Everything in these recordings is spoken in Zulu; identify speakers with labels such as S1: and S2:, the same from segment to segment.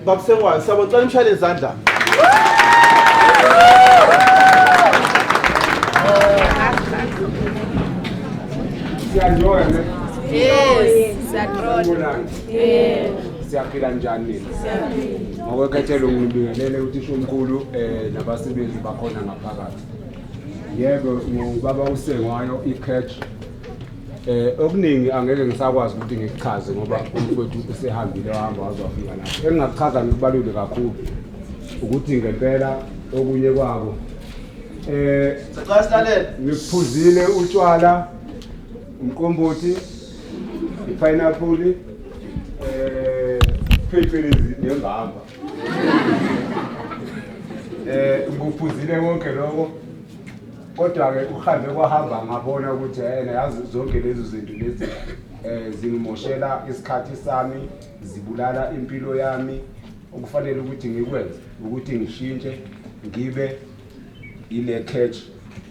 S1: Bakusengwayo sabo cela imshayele izandla. Siyajoya ne?
S2: Yes, siyajoya. Yes. Siyaphila njani nina? Siyaphila. Ngokwekhethelwe ngibingelele uthisha omkhulu eh nabasebenzi bakhona ngaphakathi. Yebo ngubaba usengwayo iCatch Eh okuningi angeke ngisakwazi ukuthi ngikuchaze ngoba umfowethu usehambile wahamba wazofika lapho. Engingakuchaza ngikubalule kakhulu ukuthi ngempela okunye kwabo eh
S1: sicela silalele ngiphuzile
S2: utshwala umqombothi ipineapple eh phecelezi nembamba eh ngiphuzile konke lokho Kodwa-ke ukuhambe kwahamba ngabona ukuthi yena yazi zonke lezo zinto lezi um zingimoshela isikhathi sami zibulala impilo yami okufanele ukuthi ngikwenze ukuthi ngishintshe ngibe ile catch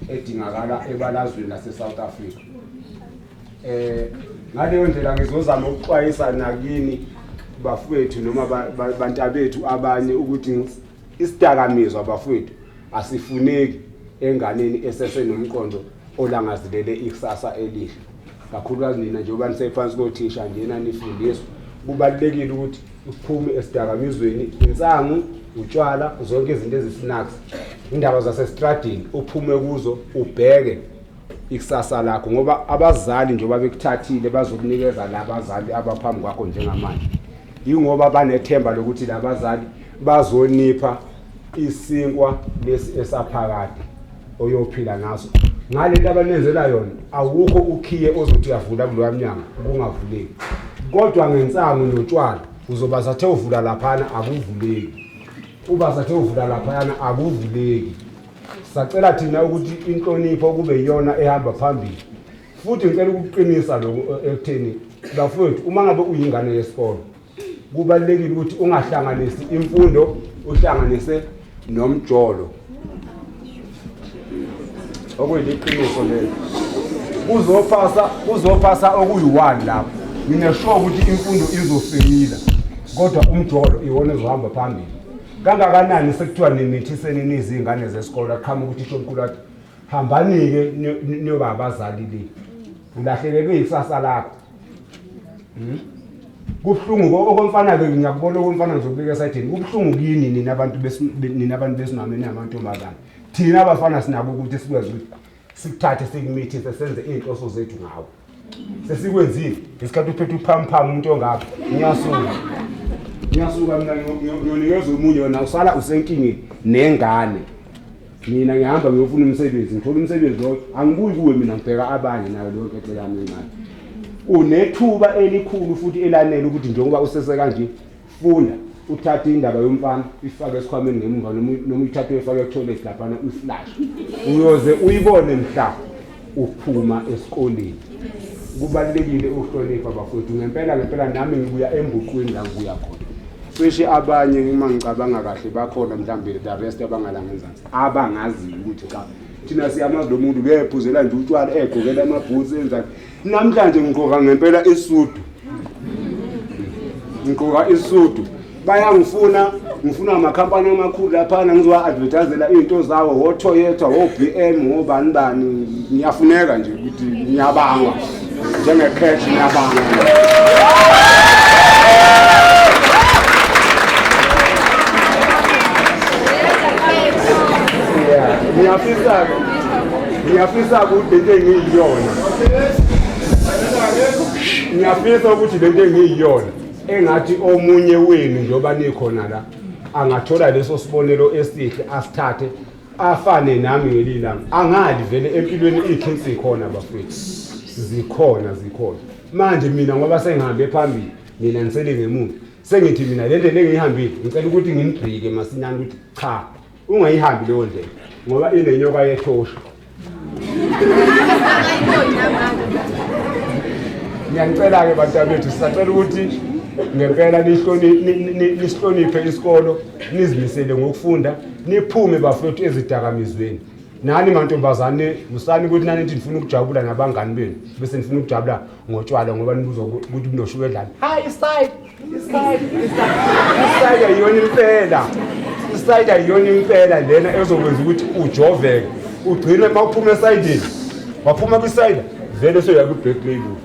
S2: edingakala ebalazweni lase-south africa eh ngaleyo ndlela ngizozama ukuxwayisa nakini bafowethu noma bantabethu abanye ukuthi Isidakamizwa bafowethu asifuneki enganeni esesenomqondo olangazilele ikusasa elihle kakhulukazi nina njengoba nisephansi kothisha njena nifundiswa kubalulekile ukuthi uphume esidakamizweni insangu utshwala zonke izinto ezisnacks indaba zasestradini uphume kuzo ubheke ikusasa lakho ngoba abazali njengoba bekuthathile bazokunikeza la bazali abaphambi kwakho njengamanje Yingoba banethemba lokuthi labazali bazonipha isinkwa lesi esaphakade oyophila ngaso. Ngalento abanenzela yona awukho ukhiye ozothi uyavula kuloya mnyango kungavuleki. Kodwa ngensangu notshwala uzoba sathe uvula laphana akuvuleki. Uba sathe uvula laphayana akuvuleki. Sacela thina ukuthi inhlonipho kube iyona ehamba phambili. futhi ngicela ukuqinisa lokhu eh, ekutheni bafowethu uma ngabe uyingane yesikole kubalulekile ukuthi ungahlanganisi imfundo uhlanganise nomjolo okuyiliqiniso lelo kuzophasa kuzophasa okuyi-one lapho ngineshoka ukuthi imfundo izosimila kodwa umjolo iwona ezohamba phambili kangakanani sekuthiwa nimithiseni niziy'ngane zesikole aqhama ukuthi ishomkhulu athi hambani-ke niyoba abazali le ulahlekelwe ikusasa lakho hmm? kubuhlungu okomfana-ke ngiyakubona okomfana ngizokubeka esayidini kubuhlungu kini nina abantu nina abantu besimame ningamantombazane thina abafana sinako ukuthi sikwazi ukuthi sikuthathe sikumithise senze iy'nhloso zethu ngawo sesikwenzile ngesikhathi uphethe uphamphamu umuntu ongapha ngiyasuka ngiyasuka mina ngiyonikeza omunye wena usala usenkingeni nengane mina ngihamba ngiyofuna umsebenzi ngithola umsebenzi loyo angibuyi kuwe mina ngibheka abanye nayo leyo nkethe yami encane unethuba elikhulu futhi elanele ukuthi njengoba usese kanje Funda, Uthathe indaba yomfana ifake esikhwameni ngemuva noma uyithathe uyifake etoilet laphana uyiflash. Uyoze uyibone mhla uphuma esikoleni. Kubalulekile ukuhlonipha bafowethu ngempela ngempela nami ngibuya embuqweni la ngibuya khona. cishe abanye uma ngicabanga kahle bakhona mhlawumbe the rest abangalanga enzansi abangaziyo ukuthi cha thina siyamazi lo muntu uyephuzela nje utshwala egqokela amabhutsi enzani Namhlanje ngigqoka ngempela isudu. Ngigqoka isudu. Bayangifuna ngifuna amakhampani amakhulu laphana ngizowa-advertisela iy'nto zawo wo-toyota wo-b m wobani bani ngiyafuneka nje ukuthi ngiyabangwa njenge-cash ngiyabangwa ngiyafisa-ke ngiyafisa ukuthi lento engiyiyona ngiyafisa ukuthi lento engiyiyona engathi omunye wenu njengoba nikhona la angathola leso sibonelo esihle asithathe afane nami ngelilanga angali vele empilweni ithi sikhona bafethu zikhona zikhona manje mina ngoba sengihambe phambili mina ngisele ngemuva sengithi mina le ndlela engiyihambile ngicela ukuthi ngimgqike masinyane ukuthi cha Ungayihambi leyo ndlela ngoba inenyoka yethosha. Ngiyanicela-ke bantabethu sisacela ukuthi ngempela nisihloniphe isikolo nizimisele ngokufunda niphume bafethu ezidakamizweni nani mantombazane musani ukuthi nani nithi nifuna ukujabula nabangani benu bese nifuna ukujabula ngotshwala ngoba nibuza ukuthi bunoshukela edlani hayi isayida isayida yiyona impela isayida yiyona impela lena ezokwenza ukuthi ujoveke ugcine uma uphuma esayidini waphuma kwisayida vele soya kwi-black label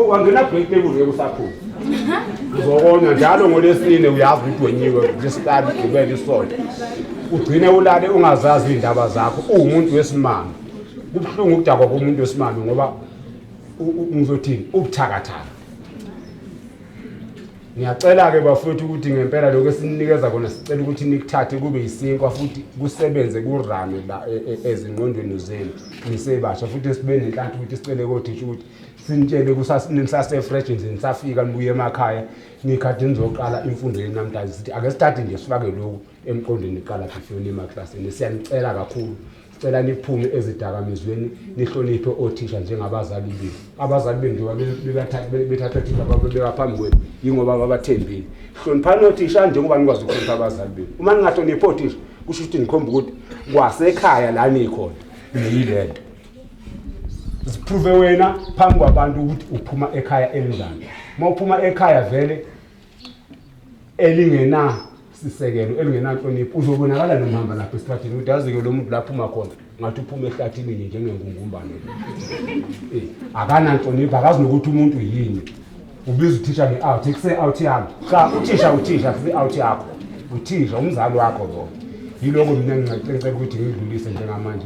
S2: wangena black label ngeke usaphuma uzokona njalo ngolesine uyazi ukuthi wenyiwe lesihlanu gibele isonto ugcine ulale ungazazi iy'ndaba zakho uwumuntu wesimanga kubuhlungu ukudakwa komuntu wesimame ngoba ngizothini ubuthakathaka ngiyacela-ke bafowethu ukuthi ngempela lokhu esinikeza kona sicela ukuthi nikuthathe kube yisinkwa futhi kusebenze kurame la e, e, ezingqondweni zenu nisebasha futhi sibe nenhlanhla ukuthi sicele kothisha ukuthi sinitshele kusasefresh nje nisafika nibuye emakhaya nikhathi nizoqala imfundo yenu namhlanje sithi ake sithathe nje sifake lokhu emqondweni iqala phi funa emaklasini siyanicela kakhulu sicela niphume ezidakamizweni nihloniphe othisha njengabazali benu abazali benu njengoba bethatha othisha babeka phambi kwenu yingoba babathembile hloniphani othisha njengoba nikwazi ukuhlonipha abazali benu uma ningahloniphi othisha kusho ukuthi nikhomba ukuthi kwasekhaya la nikhona niyile nto ziphruve wena phambi kwabantu ukuthi uphuma ekhaya elinjani uma uphuma ekhaya vele elingena sisekelo elingenanhlonipho uzobonakala nomhamba lapha esithathini ukuthi yazi-ke lo muntu lapho uma khona ngathi uphuma ehlathini nje njengengungumbane eh, akananhlonipho akazi nokuthi umuntu yini ubiza uthisha nge-out kuse-out yami cha uthisha uthisha kuse-out yakho uthisha umzali wakho lo yiloko mina ngincecela ukuthi ngidlulise njengamanje